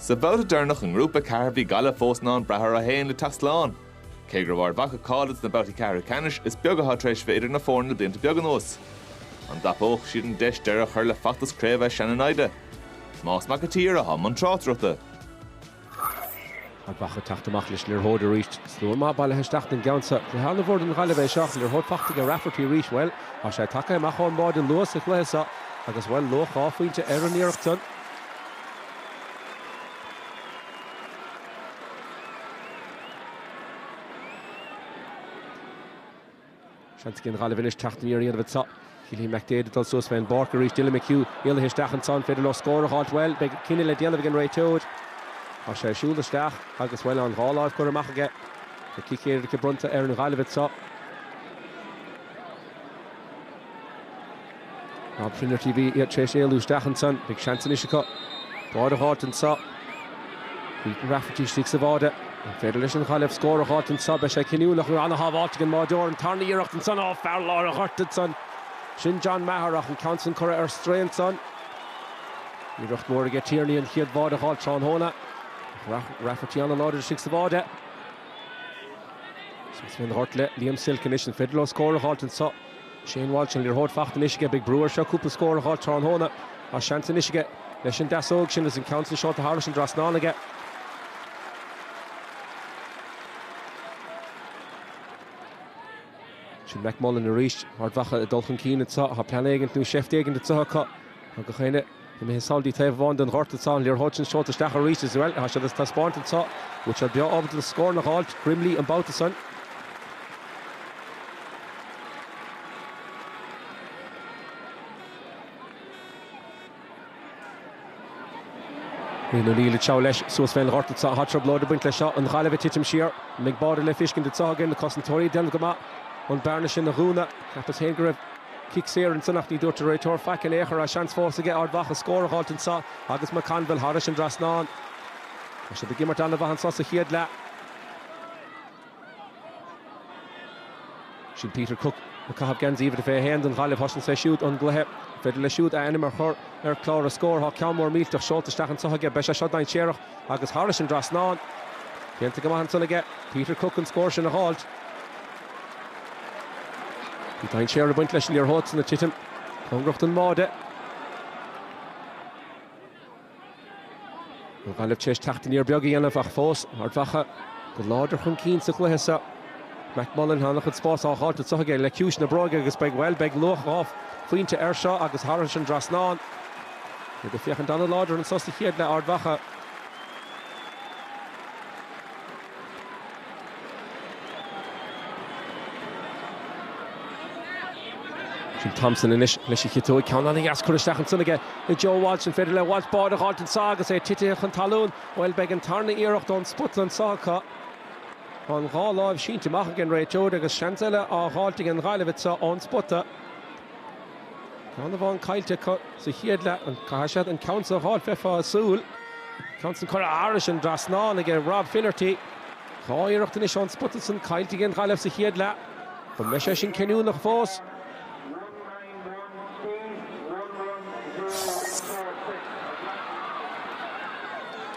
Sa bhabhta deireanach i nGrúpa 4 bhí Gaillimh fós in ann brath orthu féin le teacht slán. Cé go raibh Ard Mhacha cáilithe dos na babhtaí ceathrú ceannais, is beag atá tar éis bheith idir na foirne le blianta beaga anuas. An dtapóidh siad an deis deireadh a chur le feachtas craoibhe a sean-naimhde? Tomás Mac an tSaoir atá i mbun tráchtaireachta, Ard Mhacha ag teacht amach leis an liathróid arís. Slua maith bailithe isteach don gceann seo. Cluiche an-mhór don Ghaillimh é seo. Liathróid faighte aige Rafferty arís. Bhuel, tá sé tagtha amach ón mbáide luath sa chluiche seo. Agus, bhuel, luach dhá phointe ar an iarracht san. Seans ag an Ghaillimh anois teacht aniar a dhéanamh anseo. Cillian McDaid ag dul suas fé an bpáirc arís. Dylan McHugh éalaithe isteach anseo. An féidir leo scór a dh'fháilt? Bhuel, beidh cinneadh le déanamh ag an réiteoir. Tá sé ag siúl isteach agus, bhuel, an dhá láimh curtha amach aige. Tá cic éirice bronnta ar an Ghaillimh anseo. Rob Finnerty a bhí tar éis éalú isteach ansan. Beidh seans anois acu báire a dh'fháilt anseo. Ethan Rafferty istigh sa bháide. An féidir leis an Ghaillimh scór a dh'fháilt anseo? Beidh sé cinniúnach, bhí an-shábháilt ag an mbáideoir. An tarna iarracht ansan. Ó, fear lár an ghoirt ansan. Sin John Maher ach an ceann san curtha ar strae ansan. Iarracht mhór aige Tierney an chéad bháide a dh'fháilt tráthnóna. Ach Rafferty an-láidir istigh sa bháide. Seans a bheith an-ghort le Liam Silke anois. An féidir leo scór a dh'fháilt anseo? Shane Walsh, an liathróid faighte anois aige, beidh brú air seo cúpla scór a dh'fháil tráthnóna. Tá seans anois aige leis an deasóig sin agus an ceann sin seolta thairis an dtrasnán aige. Sin McMullan arís, Ard Mhacha ag dul chun cinn anseo. Tá plean éigint nó seift éigint anseo acu. Tá gach éinne. ag sodar taobh amháin den ghort anseo, liathróid an seolta isteach arís, is bhuel, tá siad ag taispeáint anseo go bhfuil siad breá ábalta na scóranna a fháilt, Grimley an babhta san. Rian O'Neill ag gabháil leis suas fén ghort anseo, tá troiblóid ag baint leis seo, an Ghaillimh ag titim siar, an mbeidh báire le feiscint anseo againn, na cosantóirí ag déanamh go maith an bearna sin a dhúnadh, cheapas féin go raibh. Cic saor ansan ach ní dúirt an réiteoir faic in aon chor agus seans fós aige Ard Mhacha scór a fháilt anseo agus McConville thairis an dtrasnán. Tá siad ag imirt an-mhaith anseo sa chéad leath. Sin Peter Cooke ag caitheamh geansaí uimhir a 21 don Ghaillimh. Thosnaigh sé siúd an gcluiche. Féidir leis siúd a ainm a chur ar chlár na scór. Tá ceann mór millteach seolta isteach anseo aige. Beidh sé seo dainséarach. agus thairis an dtrasnán. Déanta go maith ansan aige Peter Cooke an scór sin a dh'fháilt. Bhí dainséar ag baint leis an liathróid san ag titim cóngarach don mbáide. An Ghaillimh tar éis teacht aniar beag a dhéanamh ach fós Ard Mhacha go láidir chun cinn sa chluiche seo. McMullan tá an-chuid spás á dh'fháilt anso aige le ciumhais na bróige agus beidh, bhuel, beidh luach dhá phointe air seo agus thairis an dtrasnán. ag féachaint ana-láidir anso sa chéad leath d'Ard Mhacha. Sin Thompson anois leis an chic uaidh, ceann an-dheas curtha isteach ansan aige ag Joe Walsh. An féidir le Walsh báide a dh'fháilt anso agus é titithe chun talún? Bhuel, beidh an tarna iarracht ón spota anso acu. Tá an dhá láimh sínte amach ag an réiteoir agus seans eile á dh'fháilt ag an Ghaillimh anso ón spota. Ceann amháin caillte acu sa chéad leath. An gcaithfidh siad an ceann seo a fháil? Bheifeá ag súil. Ceann san curtha thairis an dtrasnán aige Rob Finnerty. Dhá iarracht anois ón spota san caillte ag an Ghaillimh sa chéad leath. An mbeidh sé sin cinniúnach fós?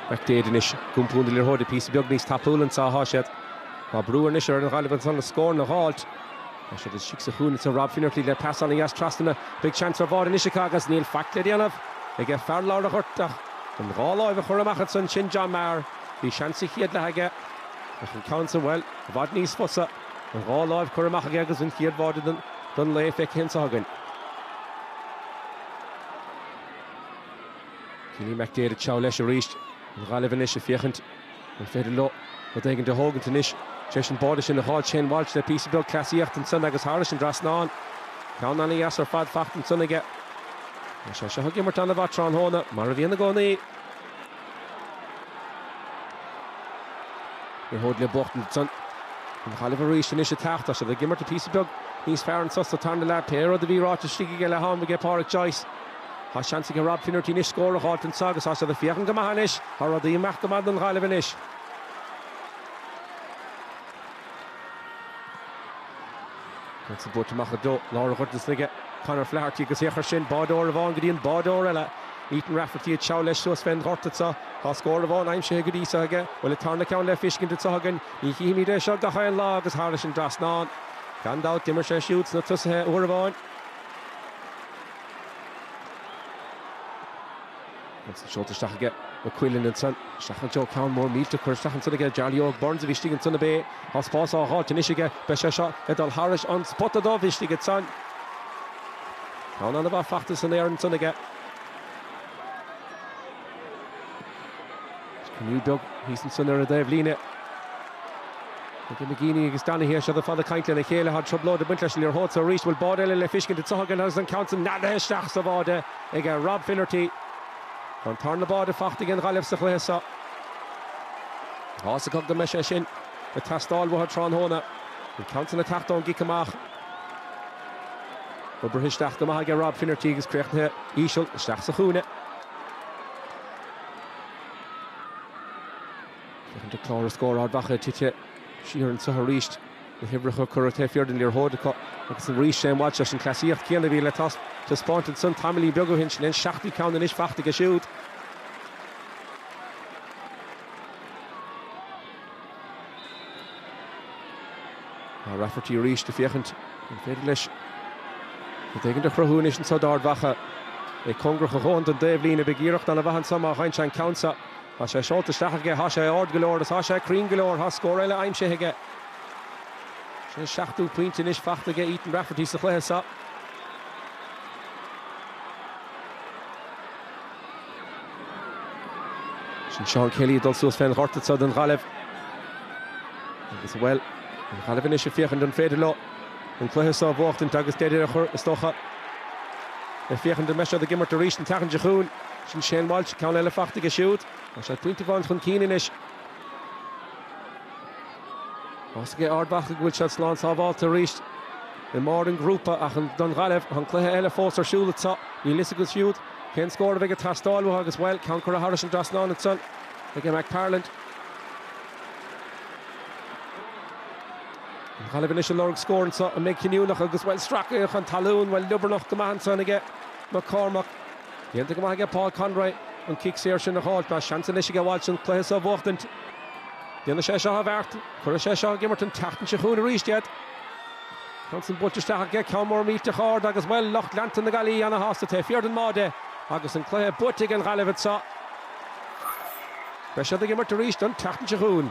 McDaid anois. Chun cinn leis an liathróid píosa beag níos tapúla anso athá siad. Tá brú anois ar an Ghaillimh anso scóranna a dh'fháilt. Ciste Sice a chúnamh do Rob Finnerty le pasáil dheas trasna. Beidh seans ar bháide anois acu agus níl faic le déanamh ag an fear lár an ghoirt ach an dá láimh a chur amach ansan sin John Maher. Bhí seans sa chéad leath aige ach an ceann sa, bhuel, i bhfad níos fusa. An dhá láimh cur amach aige agus an chéad bháide don lá feicthe anseo againn. Cillian McDaid seo leis arís an Ghaillimh anois a féachaint. An féidir leo rud éigint a thógaint anois. Tar éis an báide sin a fháil? Shane Walsh le píosa beag cleasaíochta ansan agus thairis an trasnán. Ceann ana-dheas ar fad faighte ansan aige. Tá sé seo ag imirt ana-mhaith tráthnóna, mar a bhíonn i gcónaí. Ní hamháin liathróid ansan. An Ghaillimh arís anois ag teacht, tá siad ag imirt píosa beag níos fearr anso sa tarna leath. Pé rud a bhí ráite istigh ag leath-am aige Pádraic Joyce. Tá seans ag Rob Finnerty anois scór a dh'fháilt anso agus tá siad ag féachaint go maith anois. Tá rudaí ag imeacht go maith don Ghaillimh anois. An ceann san buailte amach i dtreo lár an ghoirt ansan aige Conor Flaherty agus ón chúl báireoir amháin go dtí an báireoir eile. Ethan Rafferty ag teacht leis suas fén ghort anso. Tá scór amháin aimsithe go dtí seo aige. Bhuel, an tarna ceann le feiscint anso againn. Ní chífimid é seo gach aon lá agus thairis an dtrasnán, gan dabht, d'imir sé siúd sna tosaithe uair amháin. Agus í seolta isteach aige, Nugent ansan. Isteach anseo, ó, ceann mór millteach curtha isteach ansan aige. Jarly Óg Burns a bhí istigh ansan ab é. Tá spás á dh'fháilt anois aige. Beidh sé seo ag dul thairis an spota dubh istigh ansan. Ceann an-mhaith faighte san aer ansan aige. Is cruinniú beag thíos ansin ar an dtaobhlíne. Tugann McGeeney agus Donaghy a seoda fada cainte lena chéile. Tá trioblóid ag baint leis an liathróid seo arís. An bhfuil báide eile le feiscint anseo againn agus an ceann sin neadaithe isteach sa bháide ag Rob Finnerty? Tá an tarna báide faighte ag an Ghaillimh sa chluiche seo. Tá a fhios acu go mbeidh sé sin ag teastáil uathu tráthnóna. An ceann sin ag teacht ón gcic amach. Oibrithe isteach go maith ag Rob Finnerty agus críochnaithe íseal isteach sa chúinne. Uaireanta clár na scór Ard Mhacha tite siar anseo arís, na huimhreacha curtha taobh thiar den liathróid acu agus arís Shane Walsh leis an chleasaíocht chéanna a bhí le taispeáint ansan tamaillín beag ó shin, sin é an seachtú ceann anois faighte aige siúd. Tá Rafferty arís le féachaint an féidir leis rud éigin a chruthú anois anseo d'Ard Mhacha. É cóngarach a dhóthain don dtaobhlíne, beidh iarracht an-mhaith anseo má gheibheann sé an ceann seo. Tá sé seolta isteach aige, tá sé ard go leor agus tá sé cruinn go leor, tá scór eile aimsithe aige. Sin an seachtú pointe anois faighte aige Ethan Rafferty sa chluiche seo. Sin Seán Kelly ag dul suas fén ghort anseo don Ghaillimh. Agus bhuel, an Ghaillimh anois ag féachaint an féidir leo an cluiche seo a bhuachtaint agus deireadh a chur, is dócha, le féachaint an mbeidh siad ag imirt arís an tseachtain seo chugainn. Sin Shane Walsh, ceann eile faighte aige siúd. Tá siad pointe amháin chun cinn anois. Tá a fhios ag Ard Mhacha go bhfuil siad slán sábháilte arís i mbarr an ghrúpa ach don Ghaillimh, tá an cluiche eile fós ar siúl anseo. Níl a fhios acu siúd cén scór a bheidh ag teastáil uathu agus, bhuel, ceann curtha thairis an dtrasnán ansan aige McPartlan. An Ghaillimh anois ag lorg scór anseo a mbeidh cinniúnach agus, bhuel, stracaithe chun talún. Bhuel, liobarnach go maith ansan aige McCormack. Déanta go maith aige Paul Conroy an cic saor sin a fháil. Tá seans anois aige Walsh an cluiche seo a bhuachtaint. Déanfaidh sé seo an bheart. Cuirfidh sé seo ag imirt an tseachtain seo chugainn arís iad. An ceann san buailte isteach aige, ceann mór millteach ard agus, bhuel, lucht leanta na Gaillimhe ana-shásta. Taobh thiar den mbáide agus an cluiche buaite ag an Ghaillimh anseo. Beidh siad ag imirt arís an tseachtain seo chugainn.